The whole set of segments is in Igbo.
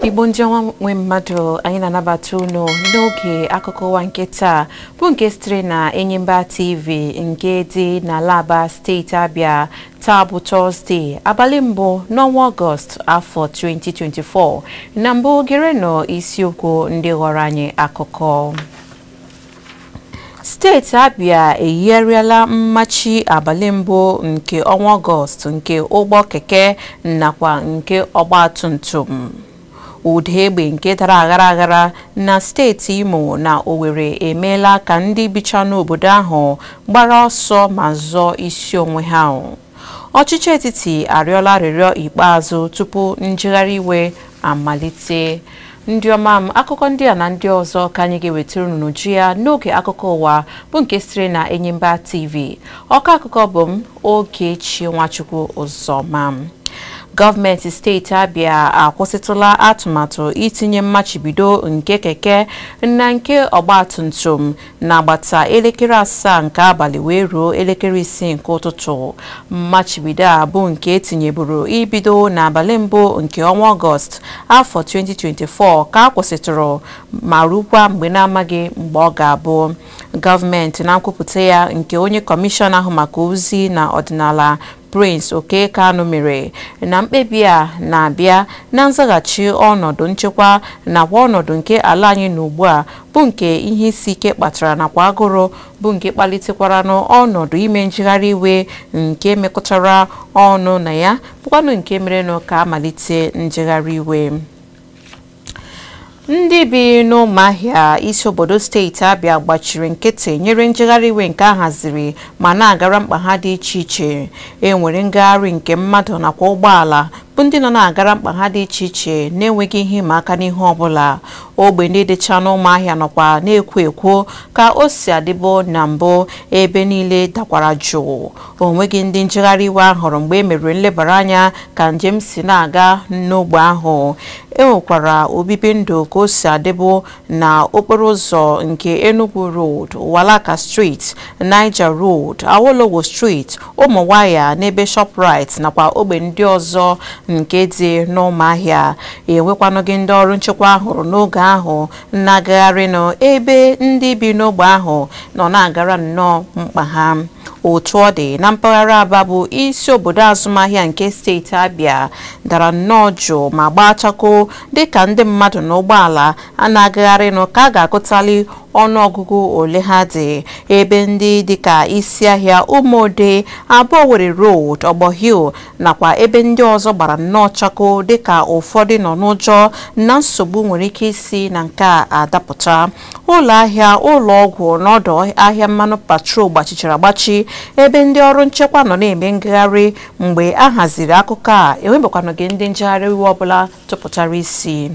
igbo ndị ọma nwe mmadụ anyị na-anabata unu n'oge akụkọ ụwa nke taa bụ nke sitere na enyimba tv nke dị n'ala aba steeti abịa Taa bụ Tọzdee, abalị mbụ n'ọnwa Ọgọst afọ 2024. Na mbụ gerenụ isiokwu ndị ghọrọ anyị akụkọ. Steeti Abia eyigharịala mmachi abalị mbụ nke ọnwa Ọgọst nke ụgbọ keke nakwa nke ọgbatumtum. ụda egbe nke dara aghara aghara na steeti Imo na Owerri emeela ka ndị bicha n'obodo ahụ gbara ọsọ ma zọọ isi onwe ha ọchịchị etiti arịọla arịrịọ ikpeazụ tupu njegharị iwe amalite ndị ọma m akụkọ ndị a na ndị ọzọ ka anyị ga-ewetara unu n'uju ya n'oge akụkọ ụwa bụ nke siri na Enyimba TV ọkọ akụkọ bụ m Okechi Nwachukwu Ụzọma gọọmenti steeti Abia akwụsịtụla atụmatụ itinye mmachibido nke keke na nke ọgbatumtum n'agbata elekere asaa nke abalị wee ruo elekere isii nke ụtụtụ mmachibido a bụ nke etinyeburu ibido n'abalị mbụ nke ọnwa ọgọst afọ 2024 ka a kwụsịtụrụ ma rukwa mgbe na-amaghị mgbe ọ ga-abụ gọọmenti na nkwupụta ya nke onye kọmishọna ahụ maka ozi na ọdịnala Prince Okey Kanu mere na mkpebi a na-abịa na nzaghachi ọnọdụ nchekwa nakwa ọnọdụ nke ala anyị nọ ugbu a bụ nke ihe isi ike kpatara nakwa agụrụ bụ nke kpalitekwaranụ ọnọdụ ime njegharị iwe nke mekọtara ọnụ na ya bụkwanụ nke merenụ ka amalite njegharị iwe ndị bi n'ụmụahịa isi obodo steeti abịa gbachiri nkịtị nyere njegharị iwe nke a haziri ma na-agara mkpa ha dị iche iche e nwere ngagharị nke mmadụ nakwa ụgbọala bụ ndị nọ na-agara mkpa ha dị iche iche na-enweghị ihe ịma aka n'ihu ọbụla ogbe ndị dịcha n'ụmụahịa nọkwa na-ekwo ekwo ka o si adịbo na mbụ ebe niile dakwara jụụ o nweghị ndị njegharị iwe a hụrụ mgbe e mere nlebara anya ka njem si na-aga n'ogbe ahụ e nwekwara obibi ndụ ka o si adịbu na okporo ụzọ nke Enugu Road, Uwalaka Street, Niger Road, Awolowo Street, Ụmụwaya n'ebe Shoprite nakwa ogbe ndị ọzọ nke dị n'Ụmụahịa. E nwekwanụghị ndị ọrụ nchekwa a hụrụ n'oge ahụ na-agagharịnụ ebe ndị bi n'ogbe ahụ nọ na-agara nnọọ mkpa ha otu ọ dị na mpaghara aba bụ isi obodo azụmahịa nke steeti abịa dara nnọọ jụụ ma gbaa chakoo dịka ndị mmadụ na ụgbọala na-agagharịnụ ka a ga-agụtali ọnụọgụgụ ole ha dị ebe ndị dịka isi ahịa ụmụode aba owerri road ọgbọ hill nakwa ebe ndị ọzọ gbara nnọọ chakoo dịka ụfọdụ nọ n'ụjọ na nsogbu nwere ike isi na nke a adapụta ụlọ ahịa ụlọ ọgwụ na ọdụ ahịa mmanụ petrol gbachichara agbachi ebe ndị ọrụ nchekwa nọ na-eme ngagharị mgbe a haziri akụkọ a enwebekwanụghị ndị njegharị iwe ọbụla tụpụtara isi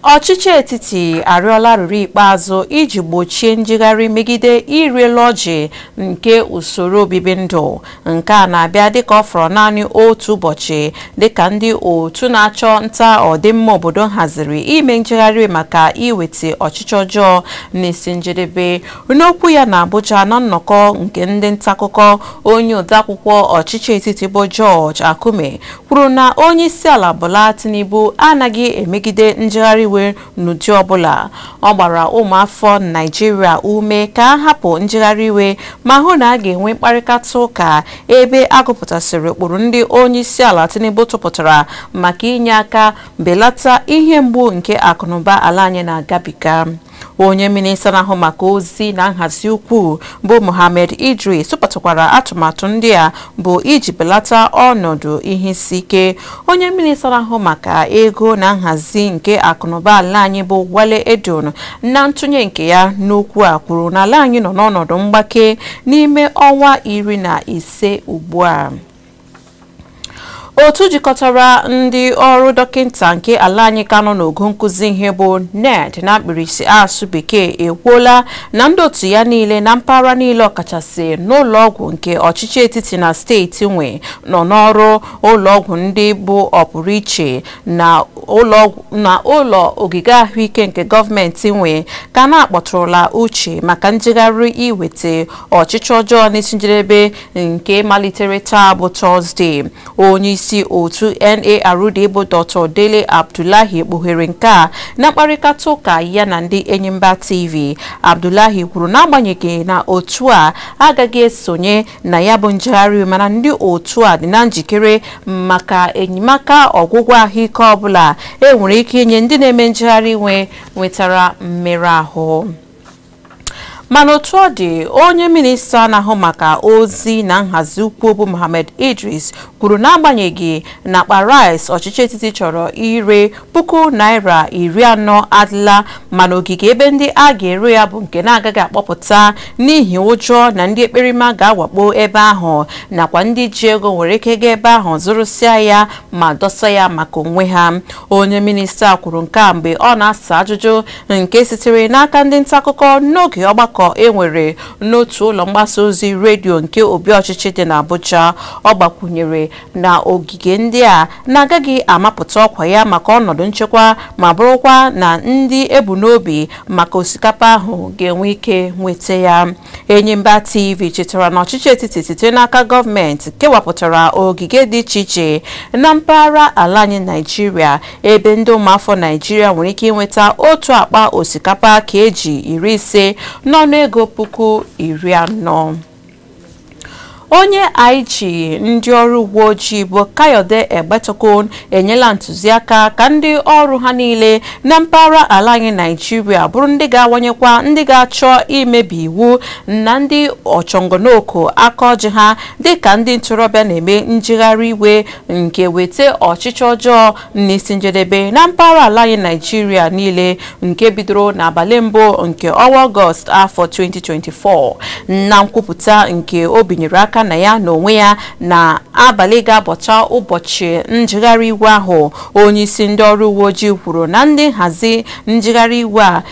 ọchịchị etiti arịọla arịrịọ ikpeazụ iji gbochie njegharị megide ịrị elu ọjị nke usoro obibi ndụ nke a na-abịa dịka ọ fọrọ naanị otu ụbọchị dịka ndị otu na-achụ nta ọdịmma obodo haziri ime njegharị maka iweta ọchịchị ọjọọ n'isi njedebe n'okwu ya na Abuja na nnọkọ nke ndị ntaakụkọ onye odeakwụkwọ ọchịchị etiti bụ George Akume kwuru na onyeisiala Bola Tinubu anaghị emegide njegharị iwe n'ụdị ọbụla ọ gbara ụmụafọ Naịjirịa ume ka a hapụ njegharị iwe ma hụ na a ga-enwe mkparịkata ụka ebe a gụpụtasịrị ụkpụrụ ndị onyeisiala Tinubu tụpụtara maka inye aka belata ihe mgbu nke akụnụba ala anyị na-agabiga onye minista na-ahụ maka ozi na nhazi ukwu bụ Mohammed Idris tụpụtakwara atụmatụ ndị a bụ iji belata ọnọdụ ihe isi ike onye minista na-ahụ maka ego na nhazi nke akụnụba ala anyị bụ Wale Edun na ntụnye nke ya n'okwu a kwuru na ala anyị nọ n'ọnọdụ mgbake n'ime ọnwa iri na ise ugbu a otu jikọtara ndị ọrụ dọkịta nke ala anyị ka nọ n'ogo nkụzi ihe bụ NARD na mkpirisi asụ bekee ekwuola na ndị otu ya niile na mpaghara niile ọkachasị n'ụlọọgwụ nke ọchịchị etiti na steeti nwe nọ n'ọrụ ụlọọgwụ ndị bụ ọpụrụ iche na ụlọ ogige ahụike nke gọọmenti nwe ka na-akpọtụrụla uche maka njegharị iweta ọchịchị ọjọọ n'isi njedebe nke malitere taa bụ tọzdee onyeisi otu NARD bụ Dr. Dele Abdullahi kpughere nke a na mkparịkata ụka ya na ndị Enyimba TV Abdullahi kwuru na agbanyeghị na otu a agaghị esonye na ya bụ njegharị iwe mana ndị otu a dị na njikere maka enyemaka ọgwụgwọ ahụike ọbụla enwere ike inye ndị na-eme njegharị iwe nwetara mmerụ ahụ mana otu ọ dị onye minista na-ahụ maka ozi na nhazi ukwu bụ Mohammed Idris kwuru na agbanyeghị na akpa rice ọchịchị etiti chọrọ ire puku naira iri anọ adịla mana ogige ebe ndị a ga-ere ya bụ nke na-agaghị akpọpụta n'ihi ụjọ na ndị ekperima ga-awakpo ebe ahụ nakwa ndị ji ego nwere ike gaa ebe ahụ zụrụsịa ya ma dọsa ya maka onwe ha onye minista kwuru nke a mgbe ọ na-asa ajụjụ nke sitere n'aka ndị nta akụkọ n'oge ọgbakọ e nwere n'otu ụlọ mgbasa ozi redio nke obi ọchịchị dị n'Abuja ọ gbakwunyere na ogige ndị a na-agaghị amapụta ọkwa ya maka ọnọdụ nchekwa ma bụrụkwa na ndị e bu n'obi maka osikapa ahụ ga-enwe ike nweta ya Enyimba TV chetara na ọchịchị etiti site n'aka gọọmenti kewapụtara ogige dị iche iche na mpaghara ala anyị Naijiria ebe ndị ụmụafọ Naijiria nwere ike inweta otu akpa osikapa kg iri ise n'ọnụego puku iri anọ. onye IG ndị ọrụ uwe ojii bụ Kayode Egbetokun enyela ntụziaka ka ndị ọrụ ha niile na mpaghara ala anyị Naijiria bụrụ ndị ga-awanyekwa ndị ga-achọ imebi iwu na ndị ọchọnganoko aka ọjị ha dịka ndị ntorobịa na-eme njegharị iwe nke weta ọchịchị ọjọọ n'isi njedebe na mpaghara ala anyị Naijiria niile nke bidoro n'abalị mbụ nke ọnwa ọgọst afọ 2024 na nkwupụta nke o binyere aka na ya n'onwe ya n'abalị ga-abọcha ụbọchị njegharị iwe ahụ onye isi ndị ọrụ uwe ojii kwuru na ndị nhazi njegharị iwe a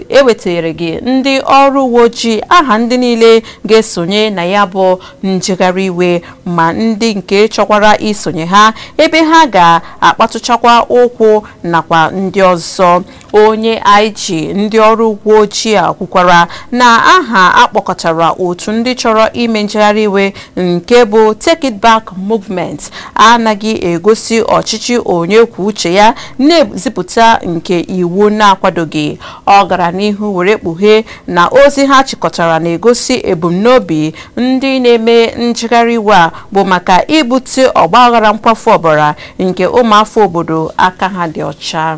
ewetereghị ndị ọrụ uwe ojii aha ndị niile ga-esonye na ya bụ njegharị iwe ma ndị nke chọkwara isonye ha ebe ha ga-akpatụchakwa ụkwụ nakwa ndị ọzọ onye IG ndị ọrụ uwe ojii a kwukwara na aha a kpọkọtara otu ndị chọrọ ime njegharị iwe nke bụ Take It Back Movement anaghị egosi ọchịchị onye kwuo uche ya na-ezipụta nke iwu na-akwadoghị ọ gara n'ihu were kpughee na ozi ha chịkọtara na-egosi ebumnobi ndị na-eme njegharị iwe a bụ maka ibute ọgbaghara nkwafu ọbara nke ụmụafọ obodo aka ha dị ọcha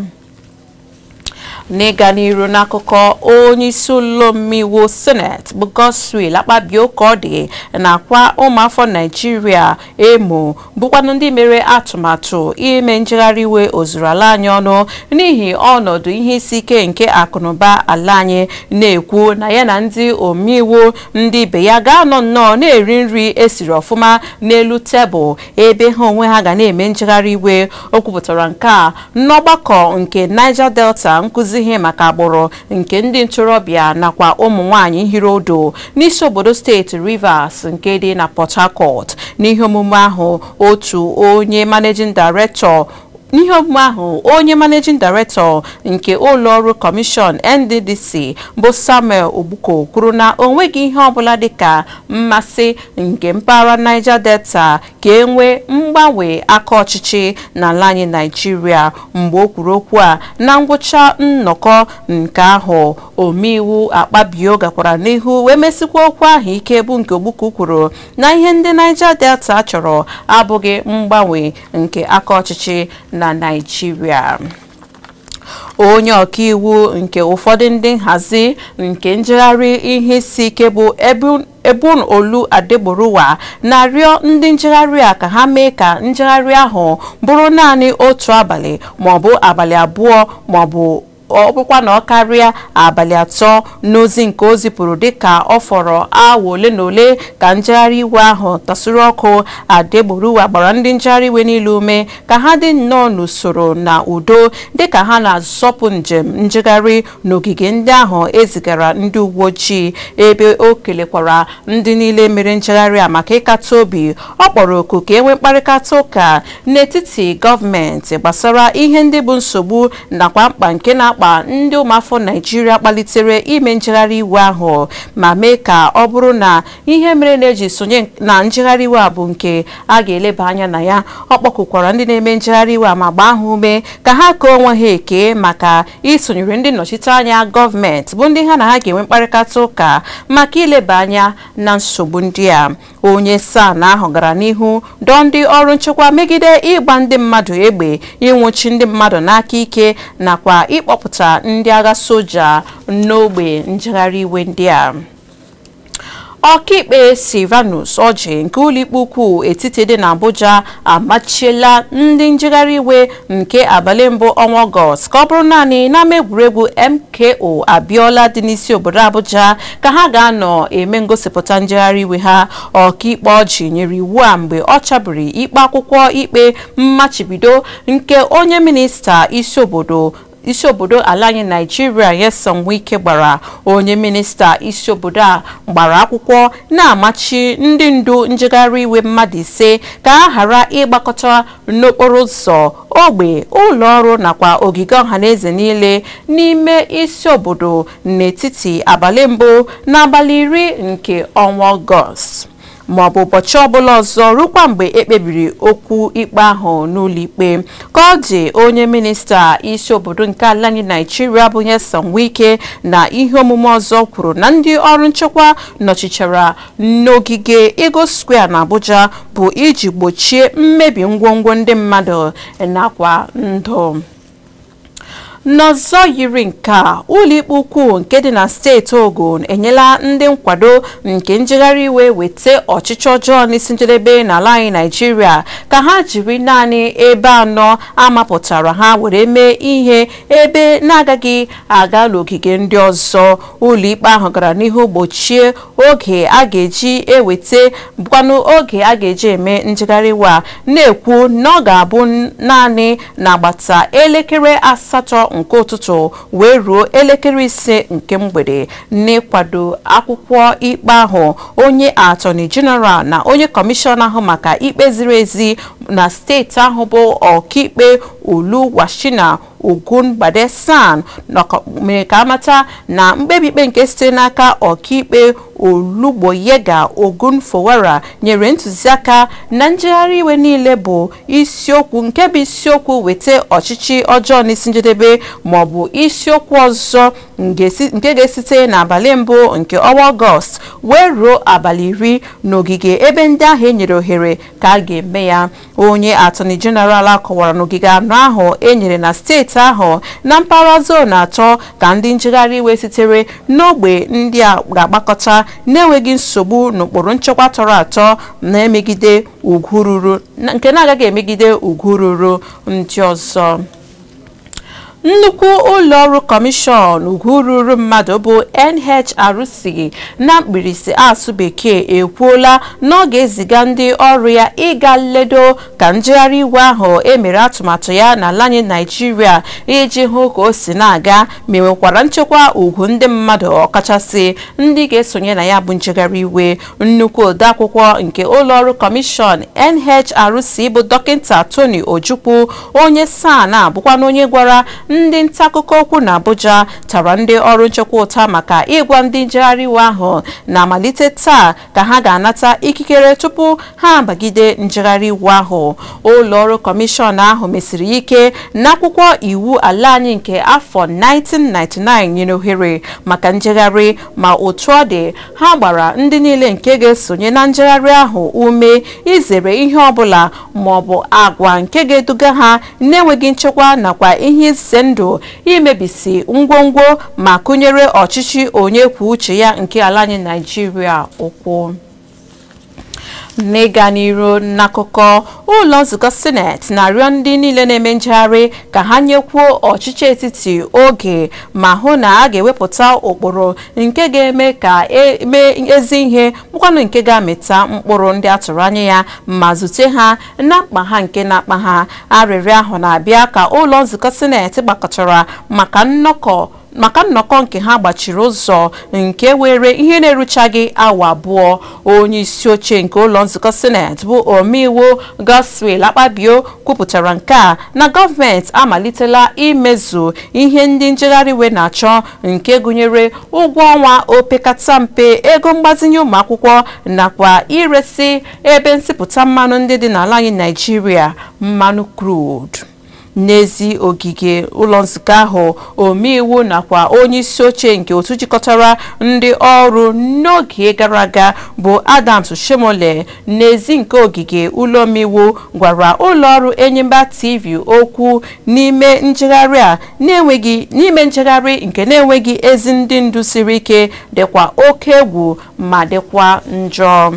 n'ịga n'iru n'akụkọ onye isi ụlọ omeiwu seneti bụ Godswill Akpabio ka ọ dị na-akwa ụmụafọ Naijiria emo bụkwanụ ndị mere atụmatụ ime njegharị iwe ozuru ala anyị ọnụ n'ihi ọnọdụ ihe isi ike nke akụnụba ala anyị na-ekwu na ya na ndị omeiwu ndị ibe ya ga-anọ nnọọ na-eri nri e siri ọfụma n'elu tebụl ebe ha onwe ha ga na-eme njegharị iwe o kwupụtara nke a n'ọgbakọ nke Niger Delta nkụzi ihe maka agbụrụ nke ndị ntorobịa nakwa ụmụ nwanyị hiri ụdụ n'isi obodo steeti Rivers nke dị na Port Harcourt n'ihe omume ahụ onye managing director nke ụlọọrụ kọmishọn NDDC bụ Samuel Ogbuku kwuru na o nweghị ihe ọbụla dịka mmasị nke mpaghara Niger Delta ka e nwee mgbanwe aka ọchịchị n'ala anyị naijiria mgbe o kwuru okwu a na ngwụcha nnọkọ nke ahụ omeiwu akpabio gakwara n'ihu wee mesikwa okwu ahụ ike bụ nke ogbuku kwuru na ihe ndị Niger Delta chọrọ abụghị mgbanwe nke aka ọchịchị na naijiria onye ọkaiwu nke ụfọdụ ndị nhazi nke njegharị ihe isi ike bụ Ebun Olu Adegboruwa na-arịọ ndị njegharị a ka ha mee ka njegharị ahụ bụrụ naanị otu abalị maọbụ abalị abụọ maọbụ ọ bụkwa na ọ karịa abalị atọ n'ozi nke o zipụrụ dịka ọ fọrọ awa ole na ole ka njegharị iwe ahụ tasuru ọkụ Adegboruwa gbara ndị njegharị iwe niile ume ka ha dị nnọọ n'usoro na udo dịka ha na-azọpụ njem njegharị n'ogige ndị ahụ ezigara ndị uwe ojii ebe o kelekwara ndị niile mere njegharị a maka ịkata obi ọ kpọrọ oku ka enwee mkparịta ụka n'etiti gọọmenti gbasara ihe ndị bụ nsogbu nakwa mkpa nke na-akpa ndị ụmụafọ naijiria kpalitere ime njegharị iwe ahụ ma mee ka ọ bụrụ na ihe mere na-eji sonye na njegharị iwe a bụ nke a ga-eleba anya na ya ọ kpọkụkwara ndị na-eme njegharị iwe a ma gbaa ha ume ka ha kee onwe ha eke maka isonyere ndị nnọchiteanya gọọmenti bụ ndị ha na ha ga-enwe mkparịta ụka maka ileba anya na nsogbu ndị a onye SAN ahụ gara n'ihu dọọ ndị ọrụ nchekwa megide ịgba ndị mmadụ egbe ịnwụchi ndị mmadụ n'aka ike nakwa ịkpọpụta ndị agha soja n'ogbe njegharị iwe ndị a ọkaikpe Sylvanus Orji nke ụlọikpe ukwu etiti dị n'Abuja amachiela ndị njegharị iwe nke abalị mbụ ọnwa ọgọst ka ọ bụrụ naanị n'ama egwuregwu MKO Abiola dị n'isi obodo Abuja ka ha ga-anọ eme ngosipụta njegharị iwe ha ọkaikpe Orji nyere iwu a mgbe ọ chabiri ikpe akwụkwọ ikpe mmachibido nke onye minista isi obodo isi obodo ala anyị naijiria Nyesom Wike gbara onye minista isi obodo a gbara akwụkwọ na-amachi ndị ndu njegharị iwe mmadụ ise ka ha ghara ịgbakọta n'okporo ụzọ ogbe ụlọ ọrụ nakwa ogige ọhaneze niile n'ime isi obodo n'etiti abalị mbụ na abalị iri nke ọnwa ọgọst ma ọ bụ ụbọchị ọbụla ọzọ rukwa mgbe ekpebiri okwu ikpe ahụ n'ụlọikpe ka ọ dị onye minista isi obodo nke ala anyị naijiria bụ Nyesom Wike na ihe omume ọzọ kwuru na ndị ọrụ nchekwa nọchichara n'ogige Eagle Square na Abuja bụ iji gbochie mmebi ngwongwo ndị mmadụ nakwa ndụ n'ọzọ yiri nke a ụlọikpe ukwu nke dị na steeti ogun enyela ndị nkwado nke njegharị iwe weta ọchịchị ọjọọ n'isi njedebe n'ala anyị naijiria ka ha jiri naanị ebe anọ amapụtara ha were mee ihe ebe na-agaghị aga n'ogige ndị ọzọ ụlọikpe ahụ gara n'ihu gbochie oge a ga-eji eweta bụkwanụ oge a ga-eji eme njegharị iwe a na-ekwu na ọ ga-abụ naanị n'agbata elekere asatọ nke ụtụtụ wee ruo elekere ise nke mgbede n'ịkwado akwụkwọ ikpe ahụ onye atọni jeneral na onye kọmishọna ahụ maka ikpe ziri ezi na steeti ahụ bụ ọkaikpe Oluwasina Ogungbade SAN mere ka amata na mkpebi ikpe nke site n'aka ọkaikpe Olugboyega Ogunfowora nyere ntụziaka na njegharị iwe niile bụ isiokwu nke bụ isiokwu weta ọchịchị ọjọọ n'isi njedebe ma ọ bụ isiokwu ọzọ nke ga-esite n'abalị mbụ nke ọnwa ọgọst wee ruo abalị iri n'ogige ebe ndị ahụ e nyere ohere ka a ga-eme ya onye atọni jeneral a kọwara n'ogige anọ ahụ e nyere na steeti ahụ na mpaghara zon atọ ka ndị njegharị iwe sitere n'ogbe ndị a ga-agbakọta na-enweghị nsogbu n'ụkpụrụ nchekwa tọrọ atọ na-emegide ugwu ruru nke na-agaghị emegide ugwu ruru ndị ọzọ nnukwu ụlọọrụ kọmishọn ugwu ruru mmadụ bụ NHRC na mkpirisi asụ bekee ekwuola na ọ ga-eziga ndị ọrụ ya ịga nledo ka njegharị iwe ahụ emere atụmatụ ya n'ala anyị Naịjirịa iji hụ ka o si na-aga ma enwekwara nchekwa ugwu ndị mmadụ ọkachasị ndị ga-esonye na ya bụ njegharị iwe nnukwu odeakwụkwọ nke ụlọọrụ kọmishọn NHRC bụ dọkịta Tony Ojukwu onye SAN a bụkwanụ onye gwara ndị ntaakụkọ okwu na Abuja tara ndị ọrụ nchekwa ụta maka ịgwa ndị njegharị iwe ahụ na-amalite taa ka ha ga-anata ikikere tupu ha abagide njegharị iwe ahụ ụlọọrụ kọmishọn ahụ mesiri ike n'akwụkwọ iwu ala anyị nke afọ 1999 nyere ohere maka njegharị ma otu ọ dị ha gbara ndị niile nke ga-esonye na njegharị ahụ ume izere ihe ọbụla ma ọ bụ agwa nke ga-eduga ha n'enweghị nchekwa nakwa ihe ize ndụ imebisi ngwongwo ma kụnyere ọchịchị onye kwuo uche ya nke ala anyị Naịjirịa ụkwụ n'ịga n'iru n'akụkọ ụlọ nzukọ sineti na-arịọ ndị niile na-eme njegharị ka ha nyekwuo ọchịchị etiti oge ma hụ na a ga-ewepụta ụkpụrụ nke ga-eme ka emee ezi ihe bụkwanụ nke ga-amịta mkpụrụ ndị a tụrụ anya ya ma zute ha na mkpa ha nke na-akpa ha arịrịọ ahụ na-abịa ka ụlọ nzukọ sineti gbakọtara maka nnọkọ maka nnọkọ nke ha gbachiri ụzọ nke were ihe na-eruchaghị awa abụọ onye isi oche nke ụlọ nzukọ sineti bụ omeiwu Godswill Akpabio kwupụtara nke a na gọọmenti amalitela imezu ihe ndị njegharị iwe na-achọ nke gụnyere ụgwọ ọnwa opekata mpe ego mgbazinye ụmụ akwụkwọ nakwa iresi ebe nsipụta mmanụ ndị dị n'ala anyị Naijiria mmanụ crude n'ezi ogige ụlọ nzukọ ahụ omeiwu nakwa onye isi oche nke otu jikọtara ndị ọrụ n'oge gara aga bụ Adams Oshiomhole n'ezi nke ogige ụlọ omeiwu gwara ụlọ ọrụ Enyimba TV okwu n'ime njegharị a n'ime njegharị nke na-enweghị ezi ndị ndu siri ike dịkwa oke egwu ma dịkwa njọ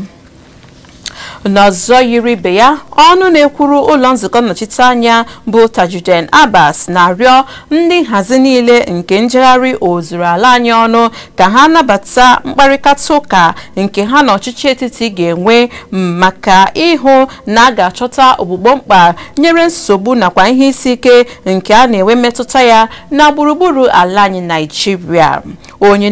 n'ọzọ yiri ibe ya ọnụ na-ekwuru ụlọ nzukọ nnọchiteanya bụ Tajudeen Abbas na-arịọ ndị nhazi niile nke njegharị ozuru ala anyị ọnụ ka ha nabata mkparịta ụka nke ha na ọchịchị etiti ga-enwe maka ịhụ na a ga-achọta ogbugbo mkpa nyere nsogbu nakwa ihe isi ike nke a na-enwe mmetụta ya na gburugburu ala anyị Naijiria onye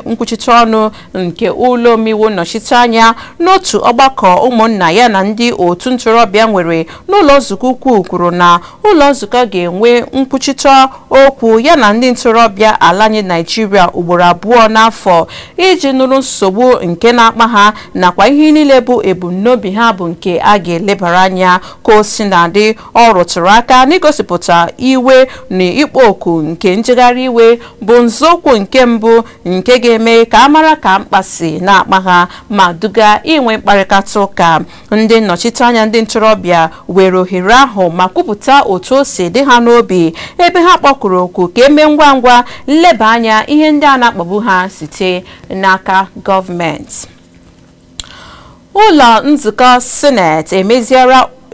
nkwuchite ọnụ nke ụlọ omeiwu nnọchite anya n'otu ọgbakọ ụmụnna ya na ndị otu ntorobịa nwere n'ụlọ nzukọ ukwu kwuru na ụlọ nzukọ ga-enwe nkwuchite okwu ya na ndị ntorobịa ala anyị naijiria ugboro abụọ n'afọ iji nụrụ nsogbu nke na-akpa ha nakwa ihe niile bụ ebumnobi ha bụ nke a ga-elebara anya ka o si na-adị ọ rụtụrụ aka n'igosipụta iwe na ịkpọ oku nke njegharị iwe bụ nzọụkwụ nke mbụ nke ga-eme ka a mara ka mkpa si na-akpa ha ma duga inwe mkparịta ụka ndị nnọchiteanya ndị ntorobịa were ohere ahụ ma kwupụta otu o si dị ha n'obi ebe ha kpọkuru oku ka eme ngwa ngwa nleba anya ihe ndị a na-akpagbu ha site n'aka gọọmenti ụlọ nzukọ sineti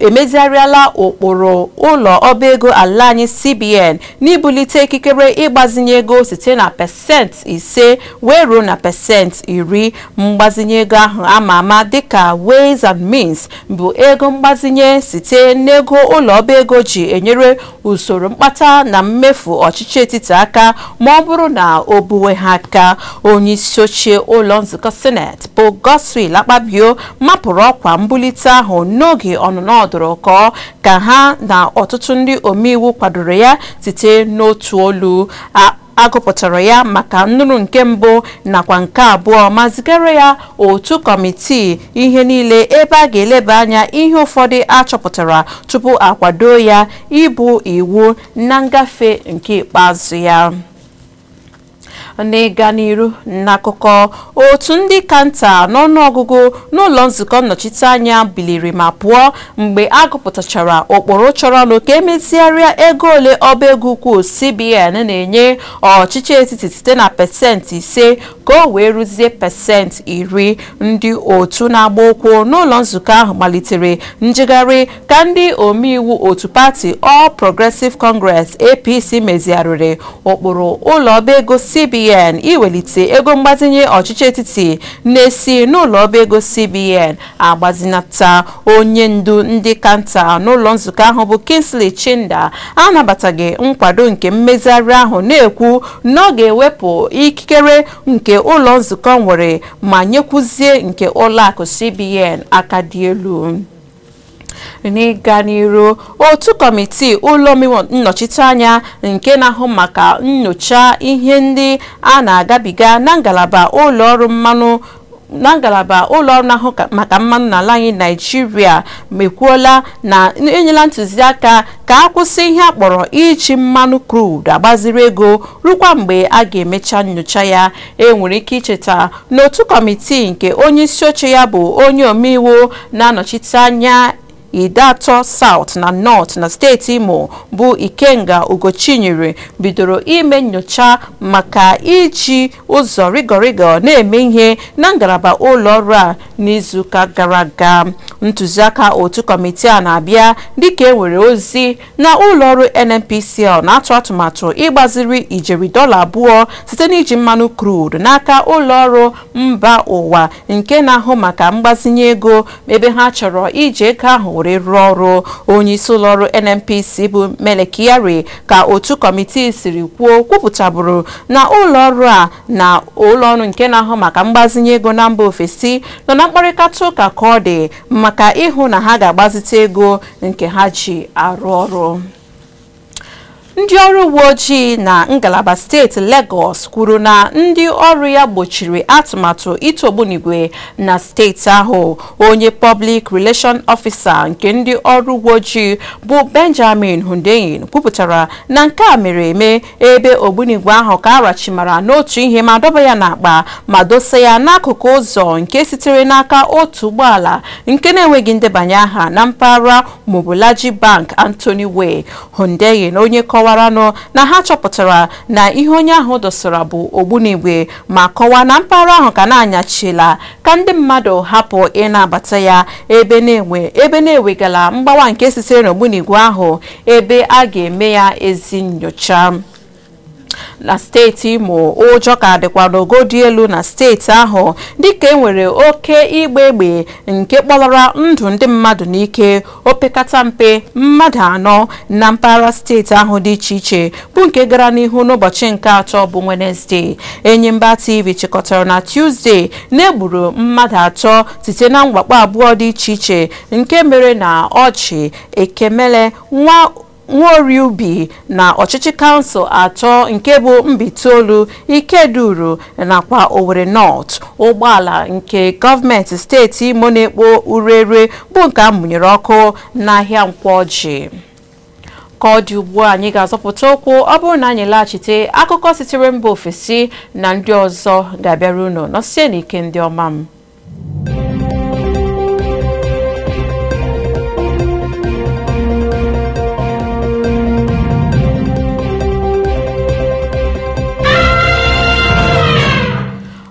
emezigharịala ụkpụrụ ụlọ ọba ego ala anyị cbn n'ibulite ikikere ịgbazinye ego site na pasentị ise wee ruo na pasentị iri mgbazinye ego ahụ ama ama dịka ways and means bụ ego mgbazinye site n'ego ụlọ ọba ego ji enyere usoro mkpata na mmefu ọchịchị etiti aka ma ọ bụrụ na o buwe ha aka onye isi oche ụlọ nzukọ sineti bụ Godswill Akpabio mapụrụ ọkwa mbulite ahụ n'oge ọnụnọ ọdụrụkọ ka ha na ọtụtụ ndị omeiwu kwadoro ya site n'otu olu a gụpụtara ya maka nnụrụ nke mbụ nakwa nke abụọ ma zigara ya otu kọmitii ihe niile ebe a ga-eleba anya ihe ụfọdụ a chọpụtara tupu a kwadoo ya ịbụ iwu na ngafe nke ikpeazụ ya n'ịga n'iru n'akụkọ otu ndị ka nta n'ọnụọgụgụ n'ụlọ nzukọ nnọchiteanya biliri ma pụọ mgbe a gụpụtachara ụkpụrụ chọrọnụ ka e mezigharịa ego ole ọba ego ukwu CBN na-enye ọchịchị etiti site na pasentị ise ka o wee ruzie pasentị iri ndị otu na-agba ụkwụ n'ụlọ nzukọ ahụ malitere njegharị ka ndị omeiwu otu pati All Progressive Congress APC mezigharịrị ụkpụrụ ụlọ ọba ego CBN iwelite ego mgbazinye ọchịchị etiti na-esi n'ụlọ ọba ego CBN agbazinata onye ndu ndị ka nta n'ụlọ nzukọ ahụ bụ Kingsley Chinda anabataghị nkwado nke mmezigharị ahụ na-ekwu na ọ ga-ewepụ ikikere nke ụlọ nzukọ nwere ma nyekwuzie nke ụlọakụ CBN aka dị elu n'ịga n'iru otu kọmitii ụlọ omeiwu nnọchiteanya nke na-ahụ maka nnyocha ihe ndị a na-agabiga na ngalaba ụlọ ọrụ mmanụ na ngalaba ụlọọrụ na-ahụ maka mmanụ n'ala anyị naịjirịa ekwuola na enyela ntụziaka ka a kwụsị ihe a kpọrọ iji mmanụ crude agbaziri ego rukwa mgbe a ga-emecha nyocha ya e nwere ike icheta n'otu kọmitii nke onye isi oche ya bụ onye omeiwu na-anọchite anya Ideato South na North na steeti Imo bụ Ikenga Ugochinyere bidoro ime nyocha maka iji ụzọ rịgọrịgọ na-eme ihe na ngalaba ụlọọrụ a n'izuụka gara aga. Ntụziaka otu kọmitii a na-abịa dịka e nwere ozi na ụlọọrụ NNPCL na-atụ atụmatụ ịgbaziri ijeri dọla abụọ site n'iji mmanụ crude n'aka ụlọọrụ mba ụwa nke na-ahụ maka mgbazinye ego ebe ha chọrọ iji ego ahụ were rụọ ọrụ onyeisi ụlọọrụ NNPC bụ Mele Kyari ka otu kọmitii siri kwuo kwupụtaburu na ụlọọrụ a na ụlọọrụ nke na-ahụ maka mgbazinye ego na mba ofesi nọ na mkparịta ụka ka ọ dị maka ịhụ na ha ga-agbazite ego nke ha ji arụ ọrụ ndị ọrụ uwe ojii na ngalaba steeti Lagos kwuru na ndị ọrụ ya gbochiri atụmatụ ịtụ ogbunigwe na steeti ahụ onye Public Relation Officer nke ndị ọrụ uwe ojii bụ Benjamin Hundeyin kwupụtara na nke a mere eme ebe ogbunigwe ahụ ka a rachimara n'otu ihe ma dọba ya n'akpa ma dosa ya n'akụkụ ụzọ nke sitere n'aka otu ụgbọala nke na-enweghị ndebanye aha na mpaghara Mobolaji Bank Anthony Way Hundeyin onye kọwaranụ na ha chọpụtara na ihe onye ahụ dosara bụ ogbunigwe ma kọwaa na mpaghara ahụ ka na-anyachila ka ndị mmadụ hapụ ịna-abata ya ebe na-enwe ebe na-ewegala mgbawa nke sitere n'ogbunigwe ahụ ebe a ga-eme ya ezi nyocha na steeti imo ụjọ ka dịkwa n'ogo dị elu na steeti ahụ dịka enwere oke ịgba egbe nke kpọlara ndụ ndị mmadụ n'ike opekata mpe mmadụ anọ na mpaghara steeti ahụ dị iche iche bụ nke gara n'ihu n'ụbọchị nke atọ bụ wenesde enyimba tv chịkọtara na tuzdee na e gburu mmadụ atọ site na mwakpo abụọ dị iche iche nke mere na orji ekemele nwa Nwaorie Ubi na ọchịchị kansụl atọ nke bụ Mbaitolu, Ikeduru nakwa Owerri North. Ụgbọala nke gọọmenti steeti Imo na-ekpo ureure bụ nke a mụnyere ọkụ n'ahịa Nkwọ Orji. Ka ọ dị ugbu a anyị ga-azọpụta ụkwụ ọ bụrụ na anyị laghachite akụkọ sitere mba ofesi na ndị ọzọ ga-abịara unu nọsie n'ike ndị ọma m.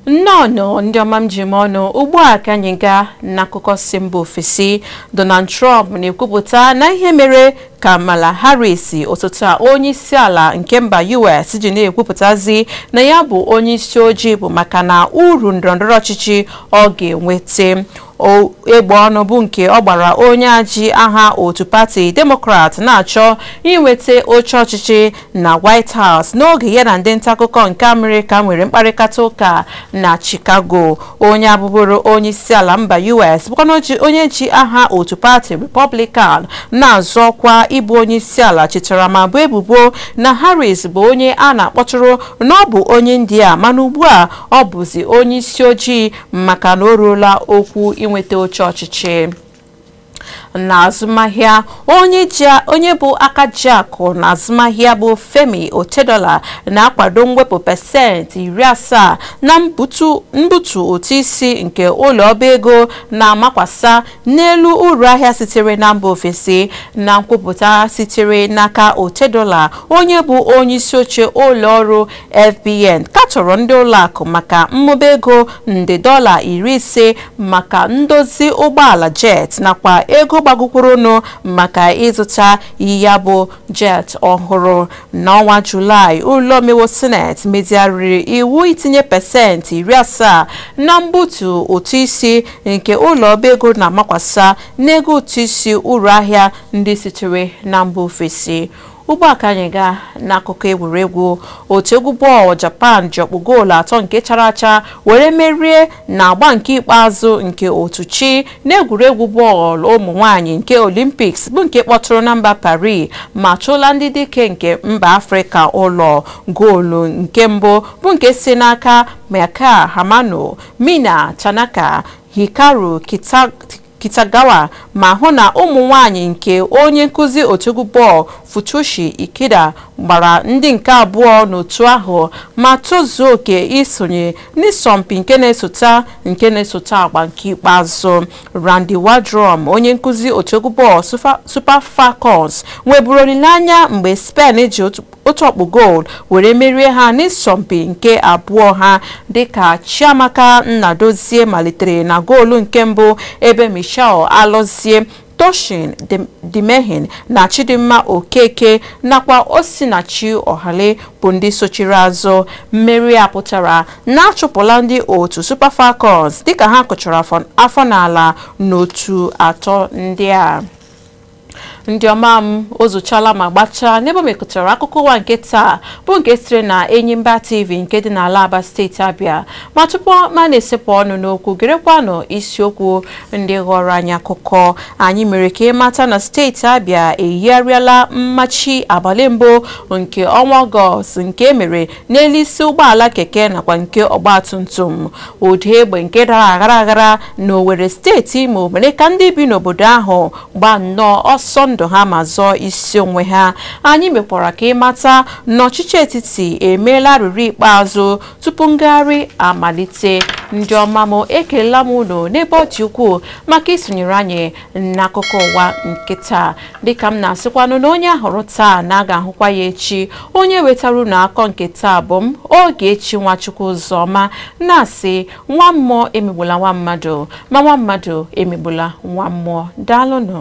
nnọọnụ ndị ọma m ji eme ọnụ ugbu a ka anyị gaa n'akụkọ si mba ofesi Donald Trump na-ekwupụta na ihe mere Kamala Harris osote onye isi ala nke mba US ji na-ekwupụtazi na ya bụ onye isi ojii bụ maka na uru ndọrọndọrọ ọchịchị ọ ga-enweta egbe ọnụ bụ nke ọ gbara onye a ji aha otu pati Demokrat na-achọ inweta oche ọchịchị na White House n'oge ya na ndị ntaakụkọ nke Amerịka nwere mkparịkata ụka na Chicago onye a bụburu onye isi ala mba US bụkwa onye ji aha otu pati Republican na-azọ ọkwa ịbụ onye isi ala chetara ma boo ebubo na Harris bụ onye a na-akpọtụrụ na ọ bụ onye India mana ugbu a ọ bụzi onye isi ojii maka na o ruola okwu inweta oche ọchịchị na azụmahịa onye bụ aka ji akụ na azụmahịa bụ Femi Otedola na-akwado mwepụ pasentị iri asaa na mbutu ụtụ isi nke ụlọ ọba ego na-amakwasa n'elu uru ahịa sitere na mba ofesi na nkwupụta sitere n'aka Otedola onye bụ onye isi oche ụlọ ọrụ FBN katọrọ ndị ụlọakụ maka mmụba ego nde dọla iri ise maka ndozi ụgbọala jet nakwa ego gbagokwurunụ maka ịzụta ya bụ jet ọhụrụ n'ọnwa Julaị ụlọ omeiwu sineti mezigharịrị iwu itinye pasentị iri asaa na mbutu ụtụ isi nke ụlọ ọba ego na-amakwasa n'ego ụtụ isi uru ahịa ndị sitere na mba ofesi ugbu a ka anyị gaa n'akụkọ egwuregwu otu egwu bọọlụ japan ji ọkpụ goolu atọ nke chara acha were merie na agba nke ikpeazụ nke otu chi n'egwuregwu bọọlụ ụmụ nwanyị nke olimpiks bụ nke kpọtụrụ na mba paris ma chụla ndị dike nke mba afrịka ụlọ goolu nke mbụ bụ nke si n'aka maika hamano mina tanaka hikaru Kitagawa ma hụ na ụmụ nwanyị nke onye nkụzi otu egwu bọọlụ Futoshi Ikeda gbara ndị nke abụọ n'otu ahụ ma tozuo oke isonye n'ịsọmpi nke na-esota nke na-esota agba nke ikpeazụ. Randy Waldrum, onye nkụzi otu egwu bọọlụ Super Falcons, nweburu olileanya mgbe Spain ji otu ọkpụ goolu were merie ha n'ịsọmpi nke abụọ ha dịka Chiamaka Nnadozie malitere na goolu nke mbụ ebe Michelle Alọzie Tosin Demehin na Chidimma Okeke nakwa Osinachi Ohale bụ ndị sochiri azụ mmeri a pụtara na a chụpụla ndị otu Super Falcons dịka ha kụchara afọ n'ala n'otu atọ ndị a ndị ọma m o zuchala ma gbachaa n'ebe m kọtara akụkọ ụwa nke taa bụ nke sitere na Enyimba TV nke dị n'ala Aba steeti Abịa ma tupu m a na-esepụ ọnụ n'okwu gerekwanụ isiokwu ndị ghọrọ anyị akụkọ anyị mere ka ị mata na steeti Abịa eyigharịala mmachi abalị mbụ nke ọnwa Ọgọst nke e mere n'elu isi ụgbọala keke nakwa nke ọgbatumtum ụda egbe nke dara aghara aghara na Owerri steeti Imo mere ka ndị bi n'obodo ahụ gbaa nnọọ ọsọ ndụ ha ma zọọ isi onwe ha anyị mekwara ka ịmata na ọchịchị etiti emeela arịrịọ ikpeazụ tupu ngagharị amalite ndị ọma m ekelela m unu n'ebe ọ dị ukwuu maka isonyere anyị n'akụkọ ụwa nke taa dịka m na-asịkwanụ na onye a hụrụ taa na a ga-ahụkwa ya echi onye wetara unu akụkọ nke taa bụ m Ogechi Nwachukwu Ụzọma na-asị nwa mmụọ emegbula nwa mmadụ ma nwa mmadụ emegbula nwa mmụọ daalụnụ